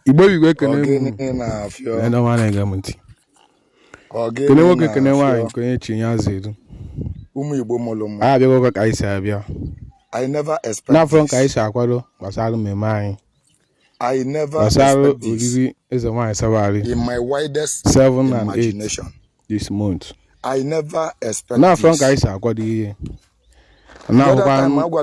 igbo igwe ekene kene nwoke kene nwaanyị nke onye chi ya zere ụmụ igbo mụrụ mma a abịago ka anyị si abịa n'afọ ka anyị si akwado gbasara mmemme anyị gbasara oriri eze nwaanyị sabari 7 and 8 this month n'afọ ka anyị si akwado ihe na-ahụkwa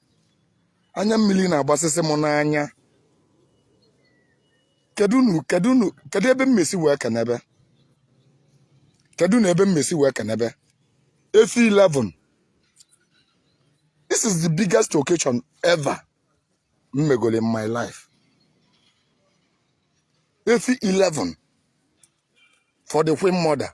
anya mmili na-agbasịsị m n'anya kedu nu kedu nu kedu ebe m ma-esi wee kenebe kedu nu ebe m ma-esi wee kenebe efi 11 this is the biggest occasion ever m megoro in my life efi 11 for the queen mother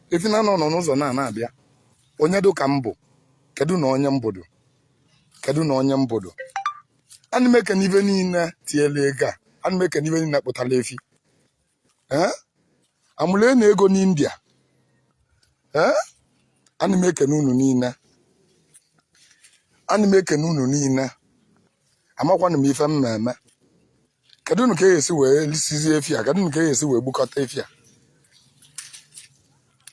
efi na anọ nọ n'ụzọ na na-abịa onye dụ ka m bụ kedu na onye m bụdu kedu na onye m bụdu ana m ekene ibe niile tiela ego a ana m ekene ibe niile kpụtala efi ee amụle na ego n'india ee ana m ekene unu niile ana m ekene unu niile amakwanụ m ife m ma-eme kedu nu ka e esi wee lisizie efi a kedu nu ka e esi wee gbukọta efi a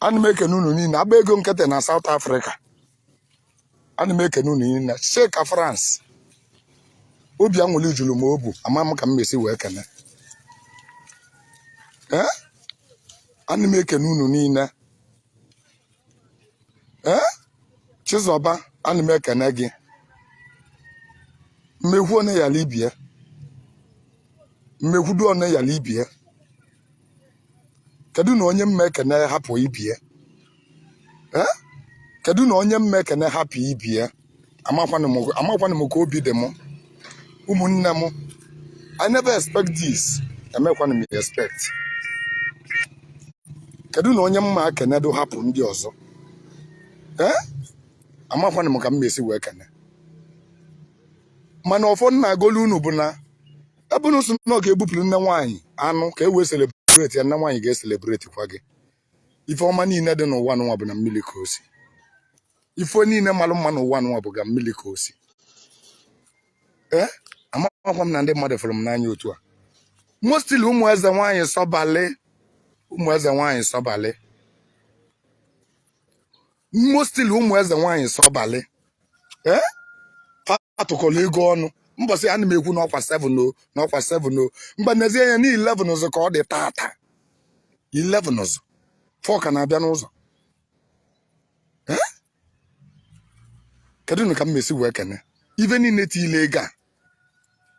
ana m ekene unu niile agba ego nkịtị na South Africa ana m ekene unu niile Chika France obi anwụli julu m obu ama m ka m ma-esi wee kene ee ana m ekene unu niile ee chizọba ana m ekene gị m ma-ekwu onye yalụ ibie m ma-ekwudu onye yalụ ibie kedu na onye m ma-ekene hapụ ibie ee kedu na onye m ma-ekene hapụ ibie amakwanụ m ka obi dị m ụmụnne m i never expect this emekwanụ m expect kedu na onye m ma-ekenedu hapụ ndị ọzọ ee amakwanụ m ka m ma-esi wee kene mana ọfọ m na-agolu unu bụ na ebe unu si na ọ ga-ebupụrụ nne nwaanyị anụ ka e wee celebrate ya nne nwaanyị ga-ecelebrate kwa gị ife ọma niile dị n'ụwa nwa bụ na mmili ka o si ife niile malụ mma n'ụwa nwa bụ ga mmili ka o si ee amakwa m na ndị mmadụ fụrụ m n'anya otu a mostly ụmụ eze nwaanyị sọbalị ụmụ eze nwaanyị sọbalị mostly ụmụ eze nwaanyị sọbalị ee atụkọlụ ego ọnụ mbọsị ana m ekwu na ọkwa 7 o na ọkwa 7 o m gbanwezie ya na 11 ụzọ ka ọ dị tata 11 ụzọ 4 ka na-abịa n'ụzọ kedu nụ ka m mesi wee kene ibe niile tiile ego a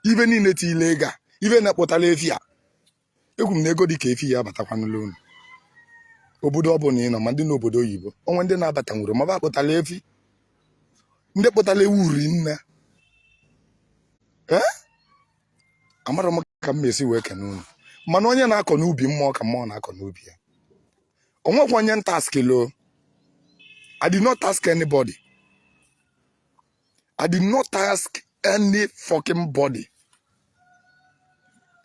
ibe niile tiile ego a ibe na-akpụtara efi a ekwu m na ego dị ka efi ya abatakwanụla unu obodo ọ bụla ị nọ ma ndị n'obodo oyibo o nwe ndị na-abatanwurọ ma ba kpụtara efi ndị kpụtara ewu uri nne ee amarọ m ka m mesi wee kene unu mana onye na-akọ n'ubi mmụọ ka mmụọ na-akọ n'ubi ya o nwekwa onye m taskịlụ I did not task anybody I did not task any fucking body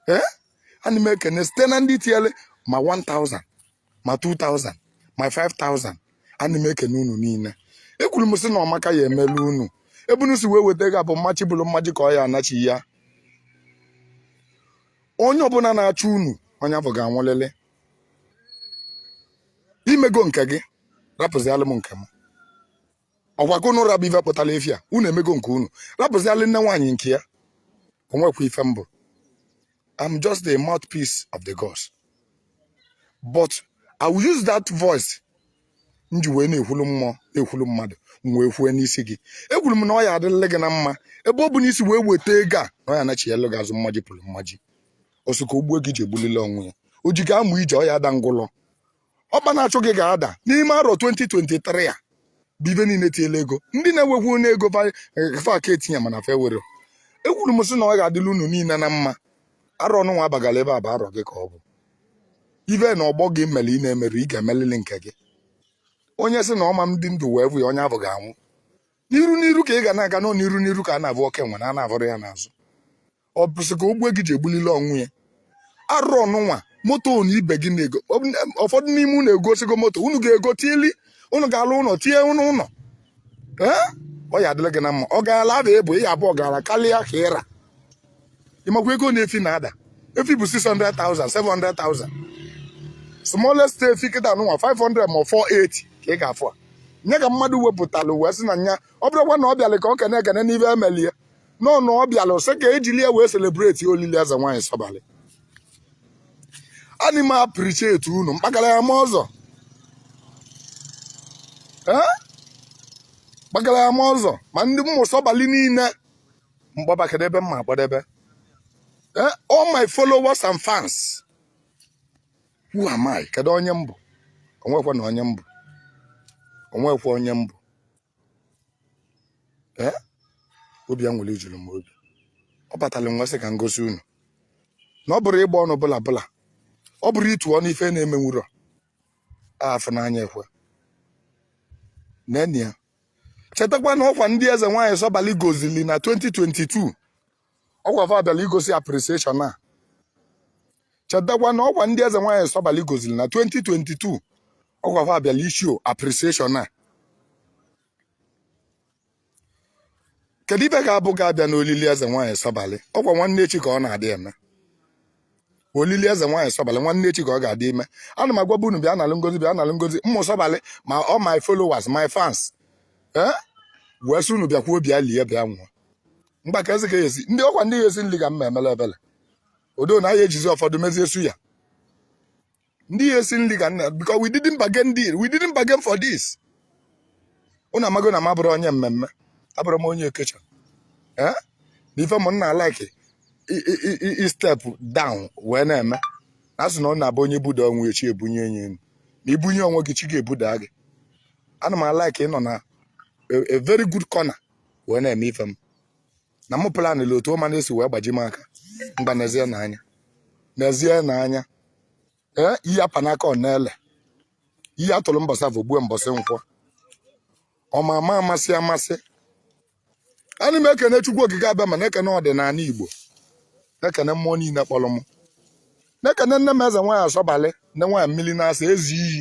ee eh? ana m ekene site na ndị tiele ma 1000 ma 2000 ma 5000 ana m ekene unu niile ekwuru m sị na ọmaka ya emelu unu ebe unu si wee weta ego a bụ mmaji bụrụ mmaji ka ọ ya anachi ya onye ọbụla na-achụ unu onye afụ ga-anwụlịlị i mego nke gị rapụzialụ m nke m ọ kwa ka unu ra bụ ibe kpụtara efi a unu emego nke unu rapụzialụ nne nwaanyị nke ya o nwekwa ife m bụ I'm just the mouthpiece of the gods but I will use that voice m ji wee na-ekwulu mmụọ na-ekwulu mmadụ m wee kwue n'isi gị ekwuru m na ọ ya adịrị gị na mma ebe ọbụna i si wee weta ego a na ọ ya anachighalụ gị azụ mmaji pụrụ mmaji ọ sị ka o gbuo gị ji egbulili onwe ya o ji gị amụ ije ọ ya ada ngwụlọ ọkpa na-achụ gị ga-ada n'ime arọ 2023 a bụ ibe niile tiele ego ndị na-enwekwunụ ego fa ga-etinye mana fa enwerọ ekwuru m sị na ọ ga-adịlị unu niile na mma arọ nụnwa abagala ebe a bụ arọ gị ka ọ bụ ibe na ọgbọ gị mere ị na-emerọ ị ga-emelili nke gị onye sị na ọ ma adị ndụ wee fụ ya onye afụ ga-anwụ n'iru n'iru ka ị ga na-aga nọ n'iru n'iru ka a na-afụ oke nwere a na-afụrọ ya n'azụ ọ bụ sị ka o gbue gị ji egbulili onwe ya arọ nụnwa moto na ibe gị na-ego ụfọdụ n'ime unu egosigo moto unu ga-ego tieli unu ga-alụ ụlọ tinye unu ụlọ ọ ya adịlị gị na mma ọ gaala ada ebo ị abụọ gara karịa ka ị ra ị makwa ego na efi na-ada efi bụ 600,000 700,000 smallest efi kịta nụnwa 500 ma 480 ka ị ga-afụ a nye ka mmadụ wepụtalụ wee sị na nya ọ bụrọkwa na ọ bịalụ ka ọ kene ekene n'ife e melie nọ na ọ bịara sị ka e jili ya wee celebrate olili eze nwaanyị sọbalị ana m appreciate unu mkpakara ya ma ọzọ Eh? mkpakara ya ma ọzọ ma ndị mmụ sọbalị niile m kpọba ka ọ debe m ma akpọdebe Eh, all my followers and fans who am I kedu onye m bụ o nwekwanụ onye m bụ o nwekwa onye m bụ ee obi anwụlị juru m obi ọ batara m wee sị ka m gosi unu na ọ bụrọ ịgba ọnụ bụla bụla ọ bụrọ ịtụ ọnụ ife na-emenwurọ afụ n'anya ekwe nene ya chetakwa na ọkwa ndị eze nwaanyị sọbali gozili na 2022 ọkwa fa bịara igosi appreciation a chetakwa na ọkwa ndị eze nwaanyị sọbali goziri na 2022 ọkwa fa abịala ịshow appreciation a kedu ibe ga-abụ ga-abịa n'olili eze nwaanyị sọbali ọkwa nwanne echi ka ọ na-adị eme olili eze nwaanyị sọbalị nwanne echi ka ọ ga-adị ime ana m agwaba unu bịa nalụ ngozi bịa nalụ ngozi ụmụ sọbalị ma all my followers my fans ee wee sị unu bịakwuo bịa lie bịa nwụọ mgbaka eze ka esi ndị ọkwa ndị ga-esi nri ka m na-emele ebele odo na a ya-ejizi ụfọdụ mezie suya ndị ya-esi nri ka m na because we didn't bargain deal we didn't bargain for this unu amago na m abụrọ onye mmemme abụrọ m onye okecha ee na ife m na-alike i- i- i- i- i step down wee na-eme na asị na ọ na-abụ onye buda onwe e chi ebunye nya enu ma ibunye onwe gị chi ga-ebuda gị ana m alike ịnọ na a- a very good corner wee na-eme ife m na mụ planịrị otu ọma na-esi wee gbaji m aka mgba neezienụ anya neezienụ anya ee iyi apa n'aka ọ na-ele iyi atụrụ mbọsị afọ gbue mbọsị nkwọ ọma ama amasị amasị ana m ekene chukwu okike abịama na-ekene ọdịnala igbo na-ekene mmụọ niile kpọrọ m na-ekene nne m eze nwaanyị sọbalị nne nwaanyị mmiri na-asa ezi iyi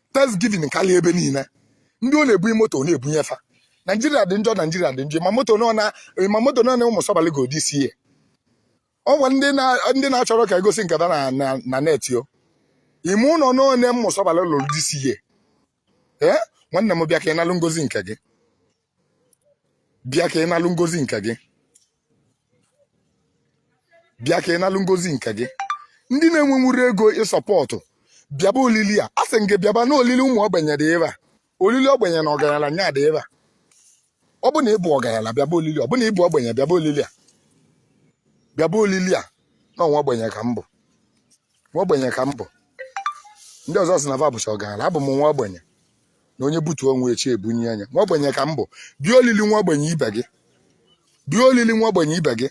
thanksgiving karịa ebe niile ndị ọ na-ebunye moto ọ na-ebunye fa naijiria dị njọ naijiria dị njọ ị ma moto n'one ụmụ sọbalị golu this year ọkwa ndị na-achọrọ ka egosi nke fa na net o ị ma ụnọ n'one ụmụ sọbalị lụrụ this year ee nwanne m bịa ka ị nalụ ngozi nke gị bịa ka ị nalụ ngozi nke gị bịa ka ị nalụ ngozi nke gị ndị na-enwenwurọ ego isupport bịaba olili a a sị m gị bịaba na olili ụmụ ogbenye dị ebe a olili ogbenye na ọgaranya nya dị ebe a ọ bụ na ịbụ ọgaranya bịaba olili ọ bụ na ịbụ ogbenye bịaba olili a bịaba olili a na nwa ogbenye ka m bụ nwa ogbenye ka m bụ ndị ọzọ sị na va bụcha ọgaranya abụ m nwa ogbenye na onye butuo onwe e chi ebunye nya nwa ogbenye ka m bụ bịa olili nwa ogbenye ibe gị bịa olili nwa ogbenye ibe gị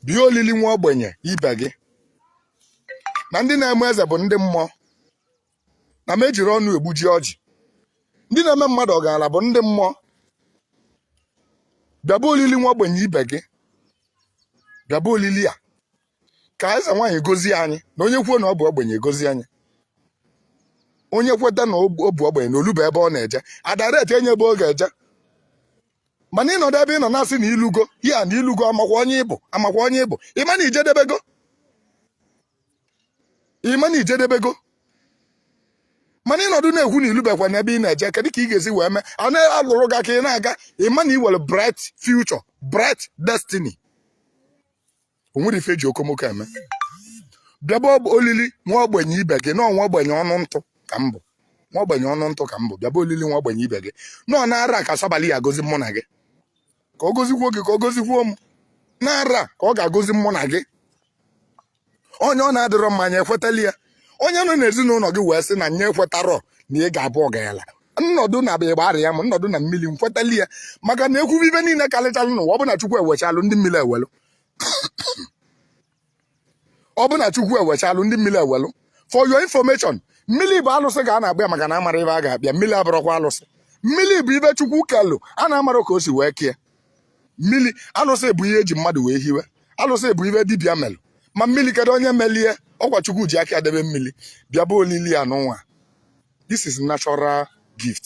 bịa olili nwa ogbenye ibe gị na ndị na-eme eze bụ ndị mmụọ na m ejirọ ọnụ egbuji ọjị ndị na-eme mmadụ ọgaranya bụ ndị mmụọ bịaba olili nwa ogbenye ibe gị bịaba olili a ka eze nwaanyị gozie anyị na onye kwuo na ọ bụ ogbenye gozie anyị onye kweta na ọ bụ ogbenye na o luba ebe ọ na-eje a direct enye ebe ọ ga-eje mana ị nọdụ ebe ị nọ na-asị na i lugo ya na i lugo a makwa onye ị bụ a makwa onye ị bụ ị ma na i jedebego ị ma na i jedebego mana ị nọdụ na-ekwu na i lubekwa na ebe ị na-eje kedụ ka ị ga-esi wee mee a na-alụrụ gị aka ị na-aga ị ma na ị nwere bright future bright destiny o nwere ife eji okomoko eme bịaba olili nwa ogbenye ibe gị na nwa ogbenye ọnụ ntụ ka m bụ nwa ogbenye ọnụ ntụ ka m bụ bịaba olili nwa ogbenye ibe gị nọ n'arọ a ka osebuluwa gozi mụ na gị ka ọ gozikwuo gị ka ọ gozikwuo m n'arọ a ka ọ ga-agozi mụ na gị onye ọ na-adịrọ mma nya ekwetali ya onye nọ n'ezinụlọ gị wee sị na nya ekwetarọ na ị ga-abụ ọgaranya nnọdụ na abịa gbara ya ma m nọdụ na mmili m kwetali ya maka na ekwubu ive niile karịchalụ n'ụwa ọ bụ na chukwu ewechalụ ndị mmili ewelụ ọ bụ na chukwu ewechalụ ndị mmili ewelụ for your information mmili bụ alụsị ka a na-akpọ ya maka na amarọ ive a ga-akpọ ya mmili abụrọkwa alụsị mmili bụ ive chukwu kelụ a na-amarọ ka o si wee kee mmili alụsị bụ ihe eji mmadụ wee hiwe alụsị bụ ive dibịa melụ ma mmili kedu onye melie ọ kwa chukwu ji aka debe mmili bịaba olili a nụnwa this is natural gift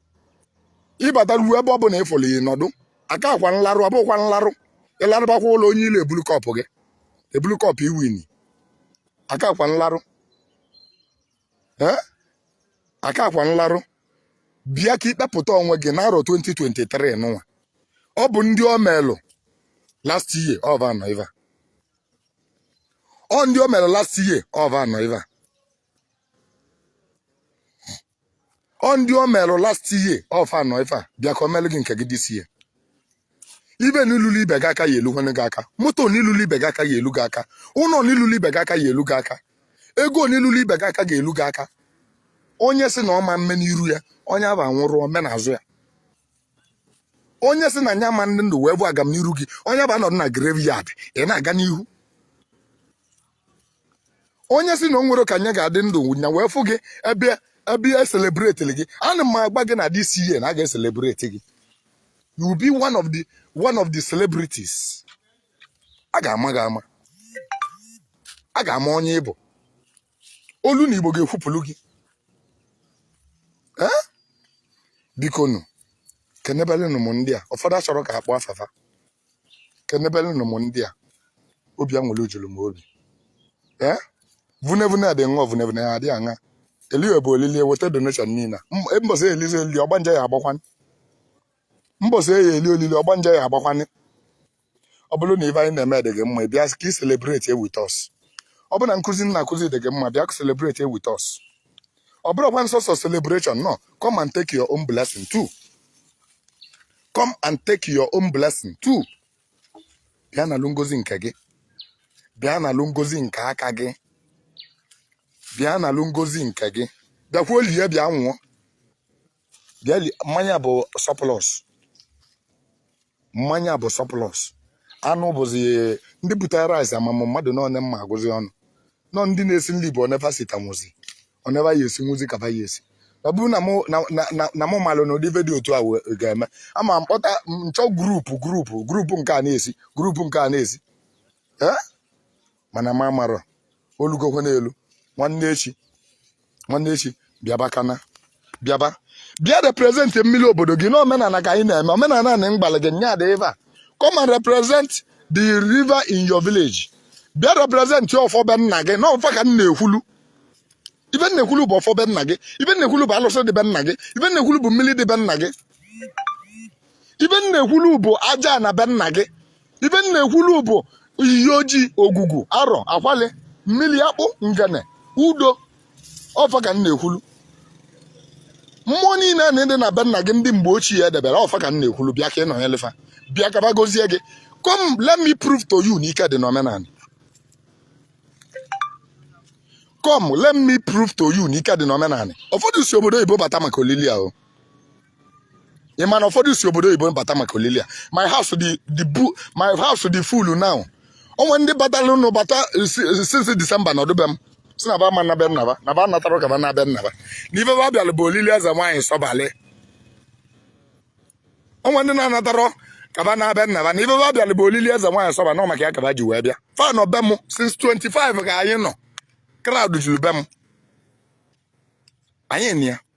ị bata ruo ebe ọ bụna ị fụlụ ị nọdụ aka akwa nlarụ ọ bụkwa nlarụ ị larụbakwa ụlọ onye ile ebulu cup gị ebulu cup i win aka akwa nlarụ ee aka akwa nlarụ bịa ka i kpepụta onwe gị n'arọ 2023 nụnwa ọ bụ ndị o melụ last year ọ va nọ iva ọ ndị o melụ last year ọ va nọ iva ọ ndị o merụ last year ọ fa nọ ifa bịa ka o melụ gị nke gị this year ive nị lulu ibe gị aka ya elukwanụ gị aka moto nị lulu ibe gị aka ya elu gị aka ụnọ nị lulu ibe gị aka ya elu gị aka ego nị lulu ibe gị aka ga-elu gị aka onye sị na ọ ma mme n'iru ya onye ahụ anwụrụ o mee n'azụ ya onye sị na nya ama adị ndụ wee vụ agamniru gị onye ahụ anọdụ na graveyard ị na-aga n'ihu onye sị na o nwerọ ka nya ga-adị ndụ nya wee fụ gị ebe ebe e celebrate gị ana m agwa gị na this year na a ga-ecelebrate gị you will be one of the one of the celebrities a ga-ama gị ama a ga-ama onye ị bụ olu na igbo ga-ekwupụlụ gị ee biko nụ kenebelụnụ m ndị a ụfọdụ achọrọ ka a kpọọ afa fa kenebelụnụ m ndị a obi anwụlị julu m obi ee vunevune adị ṅụọ vunevune ya adị aṅa eliwe bụ olili eweta donation niile mbọsị elizi olili ọgbanje ya agbakwanị mbọsị a ya-eli olili ọgbanje ya agbakwanị ọ bụrụ na ife anyị na-eme dị gị mma bịa ka ị celebrate with us ọ bụrụ na nkụzi m na-akụzi dị gị mma bịa celebrate with us ọ bụrọkwa nsọsọ celebration no come and take your own blessing too come and take your own blessing too bịa nalụ ngozi nke gị bịa nalụ ngozi nke aka gị bịa nalụ ngozi nke gị bịakwuo lie bịa nwụọ Geli mmanya bụ surplus mmanya bụ surplus anụ bụzi ndị butere rice ama m mmadụ n'one m ma-agụzi ọnụ nọ ndị na-esi nri bụ one va sitanwụzi one va ya-esinwụzi ka ba ya-esi ọ bụrụ na mụ na- na- na- na mụ malụ na ụdị ife dị otu a we- ga-eme ama m kpọta nchọ group group group nke a na-esi group nke a na-esi Eh? mana m amarọ olugokwa n'elu nwanne echi nwanne echi bịaba kana bịaba bịa represent mmiri obodo gị n'omenala ka anyị na-eme omenala na mgbalị gị nya dị ebe a come and represent the river in your village bịa represent ọfọ be nna gị na ọ fa ka m na-ekwulu ife m na-ekwulu bụ ọfọ be nna gị ife m na-ekwulu bụ alụsị dị be nna gị ife m na-ekwulu bụ mmiri dị be nna gị ife m na-ekwulu bụ ajana be nna gị ife m na-ekwulu bụ iyi ojii ogwugwu arọ akwali mmiri akpụ ngene udo ọ fa ka m na-ekwulu mmụọ niile a na-adị na be nna gị ndị mgbe ochie edebere ọ fa ka m na-ekwulu bịa ka ị nọnyere fa bịa ka ba gozie gị come let me prove to you na ike dị n'omenala come let me prove to you na ike dị n'omenala ụfọdụ si obodo oyibo bata maka olili ahụ ị ma na ụfọdụ si obodo oyibo bata maka olili a my house dị dị bu my house dey full now o nwe ndị bataranụ bata si- since December nọdụ be m sị na ba ama na be nna ba na ba anatarọ ka ba na be nna ba na ife ba bịara bụ olili eze nwaanyị sọbalị o nwe ndị na-anatarọ ka ba na be nna ba na ife ba bịara bụ olili eze nwaanyị sọba na ọ maka ya ka ba ji wee bịa fa nọ be m since 25 ka anyị nọ crowd juru be m anyị na ya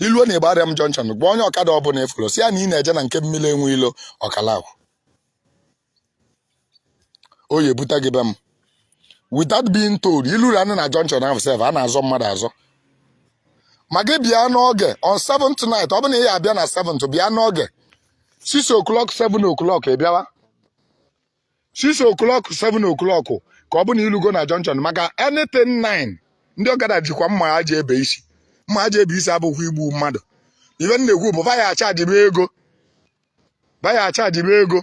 i luo na Igbariam junction gwa onye ọkada ọbụla ị fụrụ sị ya na ị na-eje na nke mmiri enwe ilo ọkada ahụ o ya-ebute gị be m without being told i lurunụ na junction ahụ sef a na-azọ mmadụ azọ ma gị bịa n'oge on 7th night ọ bụ na ị ya-abịa na 7th bịa n'oge 6 o'clock 7 o'clock ị bịawa 6 o'clock 7 o'clock ka ọ bụ na i lugo na junction maka anything 9 ndị ọkada jikwa mma ha ji ebe isi mma ha ji ebe isi abụghị igbu mmadụ ife m na-ekwu bụ va ya-achajibe ego va ya-achajibe ego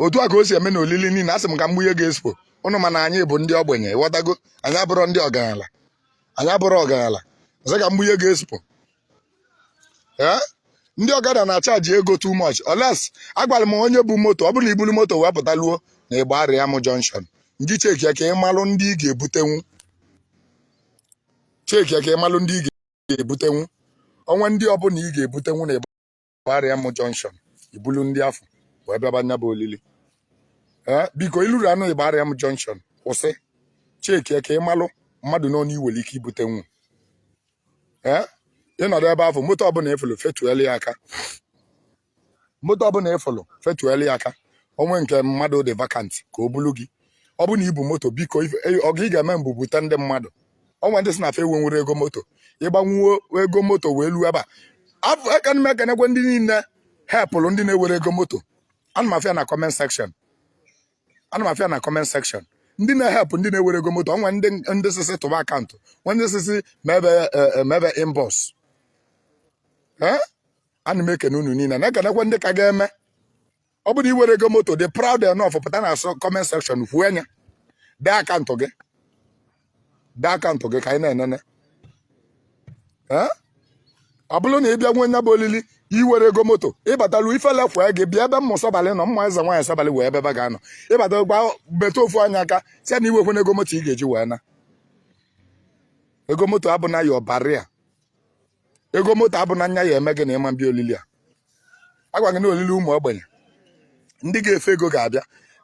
otu a ka o si eme na olili niile asị m ka m gbunye gị expo nụ mana anyị bụ ndị ogbenye ị ghọtago anyị abụrọ ndị ọgaranya anyị abụrọ ọgaranya ọzọ ka m gbunye gị expo ee ndị ọkada na-achaji ego too much oles agwara m onye bu moto ọ bụrụ na i buru moto wee pụtaluo na Igbariam junction ndị chekie ka ị malụ ndị ị ga-ebutenwu chekie ka ị malụ ndị ị ga-ebutenwu o nwee ndị ọbụla ị ga-ebutenwu na Igba gbariam junction i bulu ndị afụ wee bịaba nya bụ olili ee biko i luru ọnụ Igbariam junction kwụsị chekie ka ị malụ mmadụ one i nwere ike ibutenwu ee ị nọdụ ebe afụ moto ọbụla ị fụlụ fetuelu ya aka moto ọbụla ị fụlụ fetuelu ya aka o nwee nke mmadụ dị vacant ka o bulu gị ọ bụ na i bu moto biko ọgọ ị ga-eme m bụ bute ndị mmadụ o nwee ndị sị na fa enwe enwero ego moto ịgbanwuo ego moto wee luo ebe a aka m ekenekwe ndị niile helpụrụ ndị na-enwero ego moto ana m afụ ya na comment section ana m afụ ya na comment section ndị na-ehelpụ ndị na-enwero ego moto o nwee ndị ndị sị sị tụba account nwee ndị sị sị mebe mebe inbox ana m ekene unu niile na-ekenekwe ndị ka ga-eme ọ bụrụ i nwero ego moto be proud enough pụta na so comment section kwuo nya dee account gị dee account gị ka anyị na-enene Eh? ọ bụrụ na ị bịanwuo nya bụ olili i nwero ego moto ị batalụ ifele kwee gị bịa ebe ụmụ sọbalị nọ ụmụ ezenwaanyị sọbalị wee ebe ba ga-anọ ị bata gaa metụ ofu onye aka sị ya na i nwekwaro ego moto ị ga-eji wee naa ego moto abụna your barrier ego moto abụna nya ya-eme gị na ị ma abịa olili a agwa gị na olili ụmụ ogbenye ndị ga-efe ego ga-abịa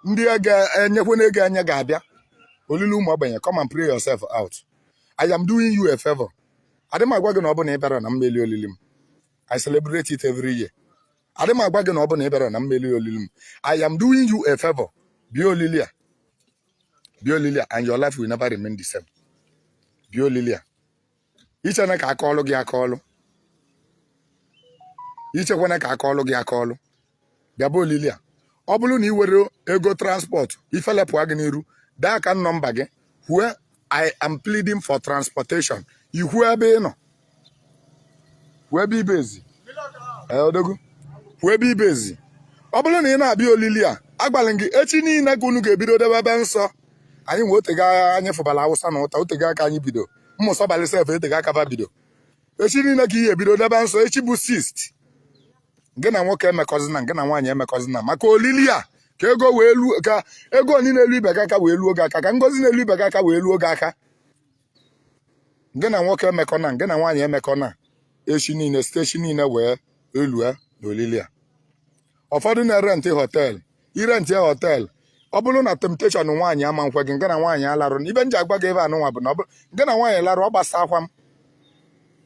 ndị ga-enekwanụ ego anya ga-abịa olili ụmụ ogbenye come and pray yourself out I am doing you a favor adị m agwa gị na ọ bụ na ị bịarọ na m ma eli olili m I celebrate it every year adị m agwa gị na ọ bụ na ị bịarọ na m ma eli olili m I am doing you a favor bịa olili a bịa olili a and your life will never remain the same bịa olili a i chena ka a kọlụ gị akọlụ i chekwana ka a kọlụ gị akọlụ bịaba olili a ọ bụrụ na i nwero ego transport ifele pụa gị n'iru dee account number gị where I am pleading for transportation i kwuo ebe ị nọ kwuo ebe i base Ee, odogwu kwuo ebe i base ọ bụrụ na ị na-abịa olili a agwala m gị echi niile ka unu ga-ebido debebe nsọ anyịnwa o tego anyị fụbara Awụsa na ụta o tego aka anyị bido ụmụ sọbalị sef eteka aka ba bido echi niile ka i ye-ebido debe nsọ echi bụ sixth gị na nwoke emekọzina gị na nwaanyị emekọzina maka olili a ka ego wee luo ka ego niile na-elu ibe gị aka wee luo gị aka ka ngozi na-elu ibe gị aka wee luo gị aka gị na nwoke emekọna gị na nwaanyị emekọna echi niile site echi niile wee lue na olili a ụfọdụ na-erentị họteelụ irentịa họteelụ ọ bụrụ na temptation nwaanyị ama nkwe gị ngị na nwaanyị alarụ ife m ji agwa gị ife anụnwa bụ na ọ bụrụ ngị na nwaanyị larụ ọ gbasaakwa m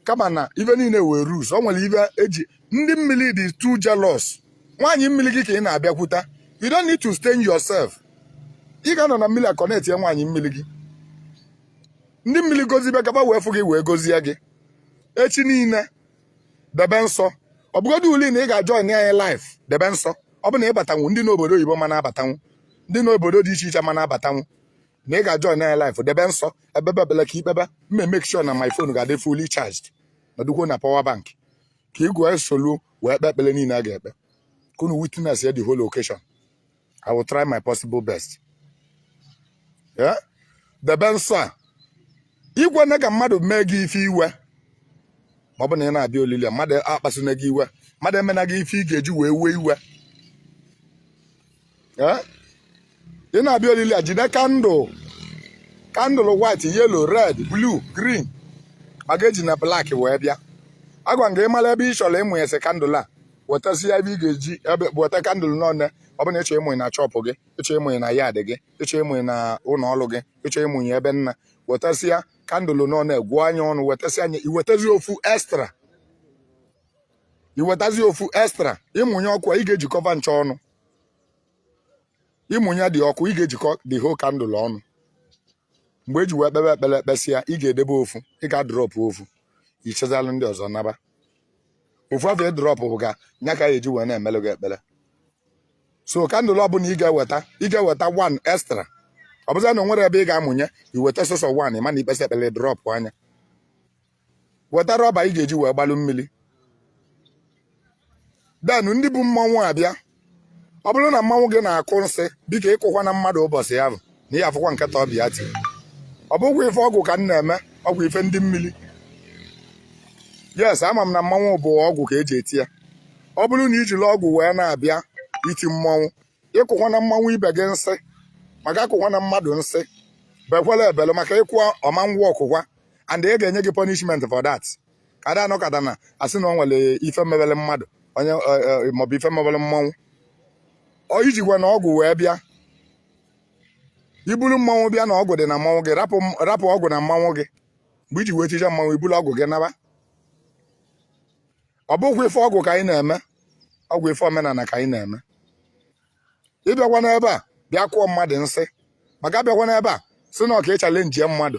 kama na ife niile nwere rules o nwere ife eji ndị mmiri dị too jealous nwaanyị mmiri gị ka ị na-abịakwute you don't need to stain yourself ị ga-anọ na mmiri akọnetịa nwaanyị mmiri gị ndị mmiri gozibe gaba wee fụ gị wee gozie gị echi niile debe nsọ ọ bụgodulu na ị ga-ajoin anyị live debe nsọ ọ bụ na ịbatanwu ndị nọ obodo oyibo ma na-abatanwu ndị nọ obodo dị iche iche ma na-abatanwu na ị ga-ajoin anyị live debe nsọ ebebe bele ka ikpebe mme make sure na my phone ga-adị fully charged nọdụkwuo na power bank ka ị gụọ esolu wee kpee ekpele niile a ga-ekpe ka unu witnessịa the whole occasion I will try my possible best. Yeah? Debe nsọ a. Ikwena ka mmadụ mee gị ife iwe. Ma ọ bụ na ị na-abịa olili a, mmadụ akpasuna gị iwe. Mmadụ emena gị ife ị ga-eji wee wee iwe. Yeah? Ị na-abịa olili a, jide kandụl. Kandụl white, yellow, red, blue, green. Maka ejina black wee bịa. Agwa m gị ịmala ebe ị chọrọ ịmụnyesị kandụl a. wetasịa ebe ị ga-eji ebe weta kandụl n'ọnụ ọ bụ na ịchọ ịmụnye na shop gị ịchọ ịmụnye na yard gị ịchọ ịmụnye na ụlọ ọrụ gị ịchọ ịmụnye ebe nna wetasịa kandụl n'ọnụ gụọ nya ọnụ wetasịa nya iwetazi ofu extra iwetazi ofu extra ịmụnye ọkụ ị ga-ejikọba ncha ọnụ ịmụnye dị ọkụ ị ga-ejikọ the whole kandụl ọnụ mgbe eji wee kpebe ekpele ekpesịa ị ga-edebe ofu ị ga-adrọpụ ofu ịchịzalụ ndị ọzọ naba ofu afụ ịdrọpụ ga nya ka a ya-eji wee na-emelụ gị ekpele so kandụl ọbụla ị ga-eweta ị ga-eweta one extra ọ bụzịa na o nwere ebe ị ga-amụnye iweta sọsọ one ma na ikpesịa ekpele drọpịa nya weta rọba ị ga-eji wee gbalụ mmiri then ndị bu mmanwụ abịa ọ bụrụ na mmanwụ gị na-akụ nsi biko ịkụkwana mmadụ ụbọsị ahụ na ihe afụkwa nketa ọbịa ti ọ bụkwa ife ọgwụ ka m na-eme ọ bụ ife ndị mmiri yes ama m na mmanwụ bụ ọgwụ ka eji eti ya ọ bụrụ na ijiri ọgwụ wee na-abịa iti mmanwụ ịkụkwana mmanwụ ibe gị nsi maka akụkwana mmadụ nsi bekwala ebele maka ịkụwa ọma ngwa ọkụkwa and a ga-enye gị punishment for that ka ada anọkata na asị na o nwere ife mebere mmadụ onye maọbụ ife mebere mmanwụ ọ ijikwana ọgwụ wee bịa iburu mmanwụ bịa na ọgwụ dị na mmanwụ gị rapụ ọgwụ na mmanwụ gị mgbe iji wee tichaa mmanwụ iburu ọgwụ gị naba ọ bụkwa ife ọgwụ ka anyị na-eme ọ bụ ife omenala ka anyị na-eme ịbịakwana ebe a bịa kụọ mmadụ nsi maka abịakwana ebe a sị na ọ ka ịchalenjie mmadụ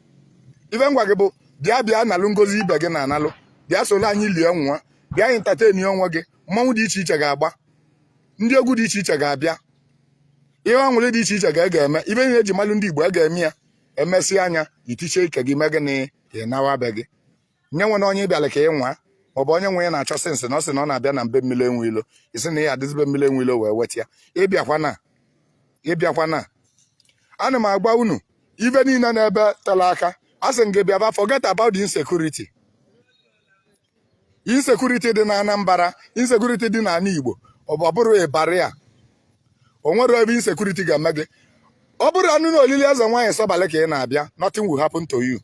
ife m gwa gị bụ bịa bịa nalụ ngozi ibe gị na-analụ bịa solo anyị lie ṅụa bịa entertain onwe gị mmanwụ dị iche iche ga-agba ndị egwu dị iche iche ga-abịa ihe ọṅụrị dị iche iche ga ga-eme ife e ji malụ ndị Igbo a ga-eme ya emesịa nya i tichaa ike gị mee gịnị ị nawa be gị nye nwere onye ị bịalụ ka ị nwaa ọ bụ onye nwe ya na-achọ since na ọ sị na ọ na-abịa na be mmiri enwe ilo ị sị na ya adịzị be mmiri enwe ilo wee weta ya ị bịakwana ị bịakwana ana m agwa unu ife niile n'ebe tela aka a sị m gị bịaba forget about the insecurity insecurity dị na Anambra insecurity dị n'ala Igbo ọ bụ- ọ bụrụ ịbarị ya o nwerọ ebe insecurity ga-eme gị ọ bụrụnụ na olili eze nwaanyị Sọbalị ka ị na-abịa nothing will happen to you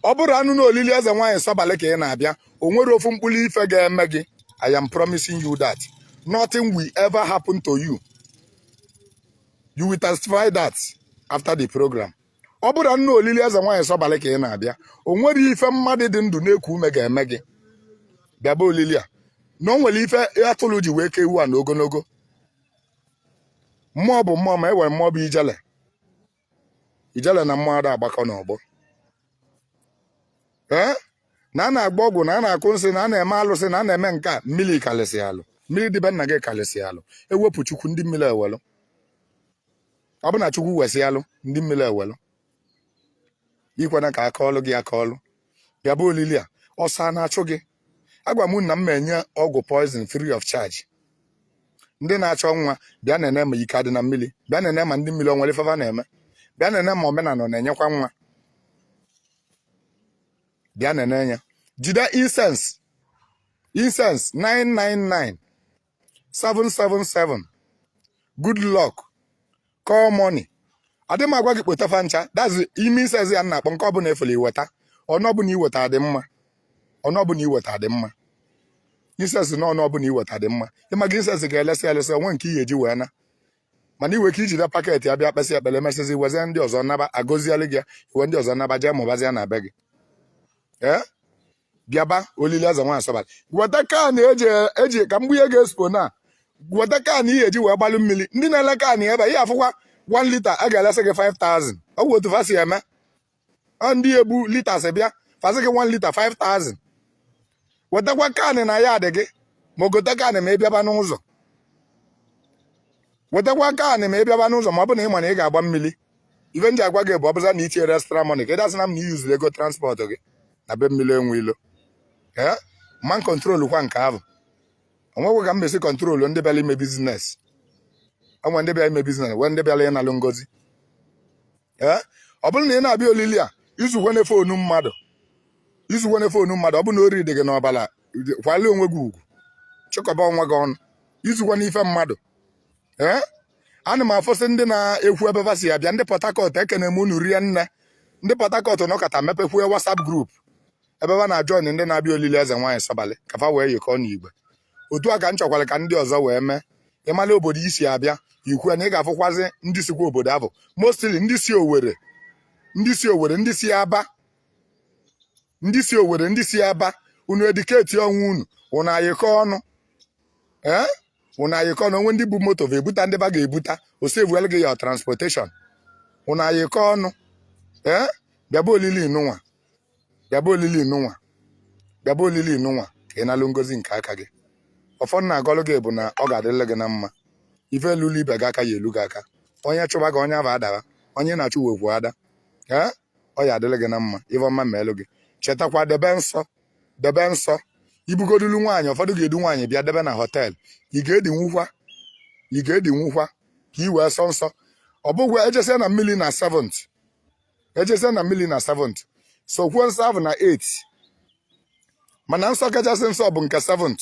ọ bụrụnụ na olili eze nwaanyị Sọbalị ka ị na-abịa o nwerọ ofu mkpụrụ ife ga-eme gị I am promising you that nothing will ever happen to you you will testify that after the program ọ bụrụnụ na olili eze nwaanyị Sọbalị ka ị na-abịa o nwerọ ife mmadụ dị ndụ na-eku ume ga-eme gị bịaba olili a na o nwere ife atụrụ ji wee ka ewu a n'ogologo mmụọ bụ mmụọ ma e nwere mmụọ bụ ijele ijele na mmụọ ada agbakọ n'ọgbọ ee na a na-agba ọgwụ na a na-akụ nsị na a na-eme alụsị na a na-eme nke a mmiri kalịsịalụ mmiri dị be nna gị kalịsịalụ ewepụ chukwu ndị mmiri ewelụ ọ bụ na chukwu wesịalụ ndị mmiri ewelụ ekwena ka a kọọlụ gị akọọlụ bịaba olili a ọsọ a na-achụ gị agwụ na m enye ọgwụ poison free of charge ndị na-achọ nwa bịa na-ene ma ike adị na mmiri bịa na-ene ma ndị mmiri o nwere ife fa na-eme bịa na-ene ma omenala ọ na-enyekwa nwa bịa na-ene ya jide incense incense 999 777 good luck call money adị m agwa gị kpota fa ncha that's ime incense ya na-akpọ nke ọbụla ị fụlụ i weta one ọbụla i weta adị mma one ọbụla i weta adị mma incense na one ọbụla i weta dị mma ịma gị incense ga-elesị elesị o nwee nke ihe eji wee na mana iwe ka i jide packet ya bịa kpesịa ekpere emesịzi wezie ndị ọzọ naba a gọzielụ gị ya i wee ndị ọzọ naba jee mụbazie na be gị ee bịaba olili eze nwaanyị Sọbalị weta can eji eji ka mgbe ihe ga-espo na weta can ihe eji wee gbalụ mmiri ndị na-ele can ebe a, ihe afụkwa 1 litre a ga-elesị gị 5000 ọ bụ otu fa si eme ọ ndị ebu litres bịa fa sị gị 1 litre 5000 wetakwa can na ya adị gị ma gote can ma ị bịaba n'ụzọ wetakwa can ma ị bịaba n'ụzọ ma ọ bụ na ị ma na ị ga-agba mmiri ife nji agwa gị bụ ọbụza na itinyere extra money ka ịdasị na m na iyuzuru ego transport gị na be mmiri enwe ilo ee man control kwa nke ahụ onwegwe ka m mesi control ndị bịara ime biznes onwe ndị bịara ime biznes nwee ndị bịara ịnalụ ngozi ee ọ bụrụ na ị na-abịa olili a izukwene fonu mmadụ izukwene fonu mmadụ ọ bụrụ na ori dị gị n'ọbala kwali onwe gị ugwu chịkọba onwe gị ọnụ izukwene ife mmadụ eh? ana m afụsị ndị na-ekwu ebe va si abịa ndị Port Harcourt ekene m unu rie nne ndị Port Harcourt nọkọta mepekwue WhatsApp group ebe va na-ajoin ndị na-abịa olili eze nwaanyị sọbalị ka fa wee yikọọ n'igwe otu a ka m chọkwara ka ndị ọzọ wee mee ịmala obodo i si abịa i kwue na ị ga-afụkwazi ndị sikwa obodo ahụ mostly ndị si Owerri ndị si Owerri ndị si Aba ndị si owere ndị si aba unu indicate onwe unu unu ayịkọ ọnụ ee unu ayịkọ ọnụ o nwee ndị bu moto va ebuta ndị va ga-ebuta o saveelu gị ya transportation unu ayịkọ ọnụ ee bịaba olili nụnwa bịaba olili nụnwa bịaba olili nụnwa ka ị nalụ ngozi nke aka gị ọfọ m na-agọlụ gị bụ na ọ ga-adịrị gị na mma ife elulu ibe gị aka ya elu gị aka onye chụba gị onye ahụ adaba onye na-achụ nwekwu ada ee ọ ya adịrị gị na mma ife ọma meelụ gị chetakwa debe nsọ debe nsọ ibugodulu nwaanyị ụfọdụ ga-edu nwaanyị bịa debe na họteelụ ị ga-edinwukwa ị ga-edinwukwa ka ị wee sọ nsọ ọ bụkwa ejesia na mmiri na 7th ejesia na mmiri na 7th sọkwuo nsọ ahụ na 8th mana nsọ kachasị nsọ bụ nke 7th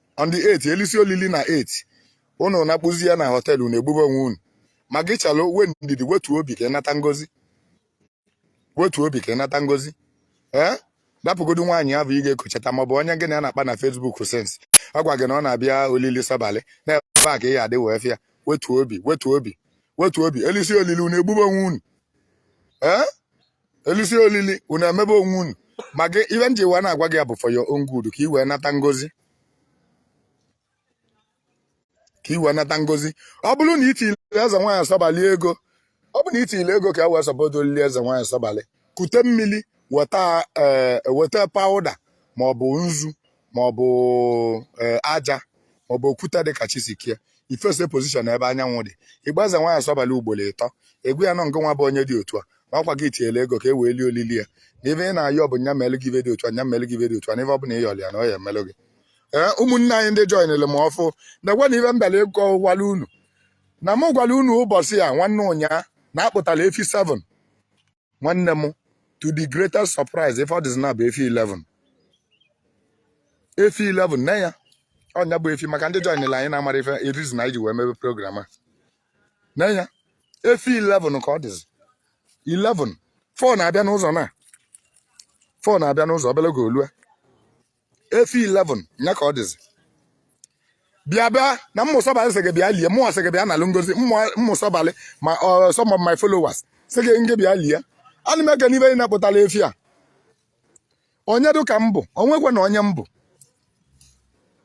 on the 8th elisi olili na 8th unu nakpuzia na họteelụ unu egbube onwe unu ma gị chalụ nwee ndidi wetuo obi ka ịnata ngozi wetuo obi ka ịnata ngozi ee rapụgodu nwaanyị ahụ ị ga-ekochata maọbụ onye gị na ya na-akpa na Facebook since ọ gwa gị na ọ na-abịa olili sọbalị na ebe a ka ị ya adị wee fụ ya wetuo obi wetuo obi wetuo obi elisi olili unu egbube onwe unu ee elisi olili unu emebe onwe unu ma gị ife nji wee na-agwa gị ya bụ for your own good ka i wee nata ngozi ka i wee nata ngozi ọ bụrụ na itile eze nwaanyị sọbalị ego ọ bụ na itile ego ka e wee support olili eze nwaanyị sọbalị kute mmiri weta ee weta pawụda ma ọ bụ nzu ma ọ bụ eh, aja ma ọ bụ okwute dị ka chisikie i face position ebe anyanwụ dị ị kpọ eze nwaanyị sọbalị ugboro ịtọ ị gwa ya na ọ ngị nwa bụ onye dị otu a ma ọkwa gị tinyere ego ka e wee lie olili ya na ife ị na-ayọ bụ nya melụ gị ife dị otu a nya melụ gị ife dị otu a na ife ọ bụla ịyọrọ ya na ọ ya emelụ gị ee eh, ụmụnne anyị ndị joinere m ọfụ na-egwe na ife m bịala ịkọ gwara unu na m gwara unu ụbọchị a nwanne ụnyaa na akpụtara efi 7 nwanne m to the greatest surprise ife ọ dịzi na bụ efi 11 efi 11 na ya ọ nya bụ efi maka ndị joinere anyị na-amara ife erizi na iji wee mebe program a nya efi 11 ka ọ dịzi 11 4 na-abịa n'ụzọ na 4 na-abịa n'ụzọ obele oge o lue efi 11 nya ka ọ dịzi bịa bịa na mmụ sọbalị sị gị bịa lie mụ sị gị bịa nalụ ngozi mmụ sọbalị ma ọ some of my followers sị gị nge bịa lie ana m ekene ibe niine kpụtala efi a onye dị ka m bụ o nwekwanụ onye m bụ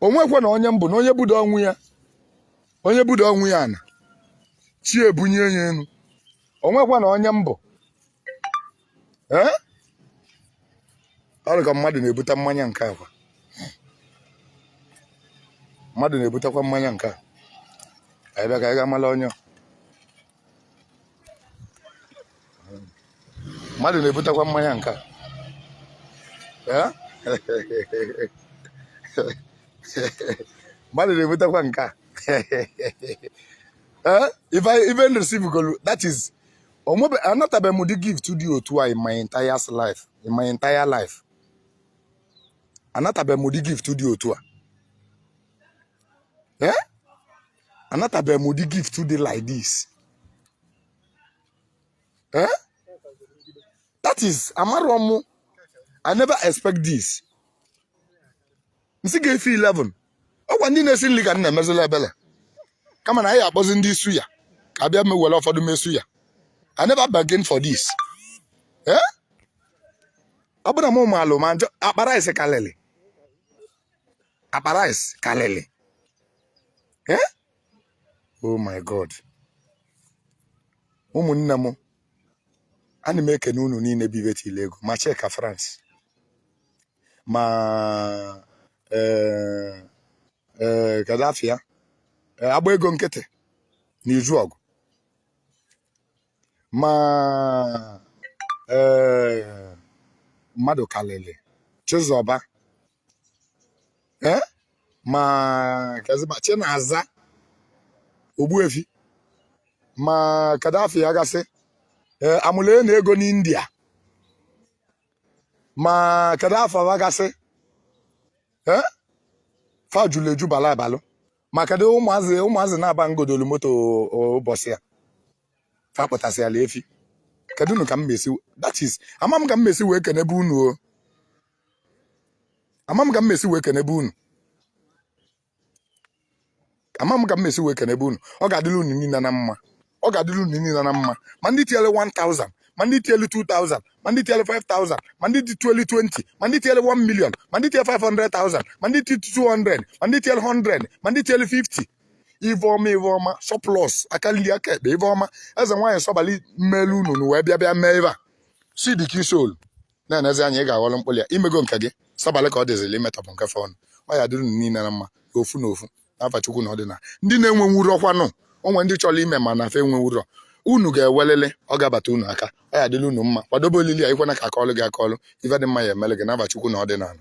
o nwekwanụ onye m bụ na onye budo onwe ya onye budo onwe ya ana chi ebunye ya enu o nwekwanụ onye m bụ ee ọ dị ka mmadụ na-ebute mmanya nke a kwa mmadụ na-ebutekwa mmanya nke a anyị bịa ka anyị ga-amala onye mmadụ na-ebutekwa mmanya nke a ee mmadụ na-ebutekwa nke a ee even receivegolu that is o nwebe anatabeghị m ụdị gift dị otu a in my entire life in my entire life anatabeghị m ụdị gift dị otu a ee eh? anatabeghị m ụdị gift dị like this ee eh? that is amarọ m i never expect this nsị ga efi 11 ọkwa ndị na-esi nri ka m na-emezila ebele kama na anyị akpọzi ndị suya ka a bịa mewere ụfọdụ me suya I never bargain for this eh? ọ bụrụ na m maalụ ma m zụọ akpa rice kalịlị akpa rice kalịlị eh? oh my god ụmụnne m ana m ekene unu niine bụ ibe tile ego ma Chika France ma ee ee kedu afa ya Ee, agba ego nkịtị na izu ọgụ ma ee mmadụ kalịlị chizọba ee ma keziba chinaza ogbuefi ma kedu afa ya gasị ee amụlụ na ego n'india ma kedu afa fa gasị fa julu eju bala abala ma kedu ụmụazị ụmụazị naabọ m gotolu moto ụbọchị a fa kpụtasịala efi kedunu ka m mesi that is ama m ka m mesi wee kenebe unu o ama m ka m mesi wee kenebe unu ama m ka m mesi wee kenebe unu ọ ga-adịrị unu niile na mma ọ ga-adịrị unu niile na mma ma ndị tinyere 1000 ma ndị tinyere 2000 ma ndị tinyere 5000 ma ndị tinyere 2020 ma ndị tinyere 1 million ma ndị tinyere 500000 ma ndị tinyere 200 ma ndị tinyere 100 ma ndị tinyere 50 ive ọma ive ọma surplus aka nri aka ekpe ive ọma eze nwaanyị sọbali mmelu unu na wee bịa bịa mee ive a si dị ka i solu na-enezi anya ị ga-aghọrọ mkpụrụ ya i mego nke gị sabalị ka ọ dịzịlị imetọpụ nke fọnụ ọ ya-adịrị unu niile na mma n'ofu n'ofu n'ava Chukwu na ọdịnala ndị na-enwenwurọ kwanụ o nwe ndị chọrọ ime mana fa enwenwurọ unu ga-enwelili ọ ga-abata unu aka ọ ya-adịrị unu mma kwadobe olili a ikwena ka a kọlụ gị akọlụ ive dị mma ya-emele gị n'ava Chukwu na ọdịnala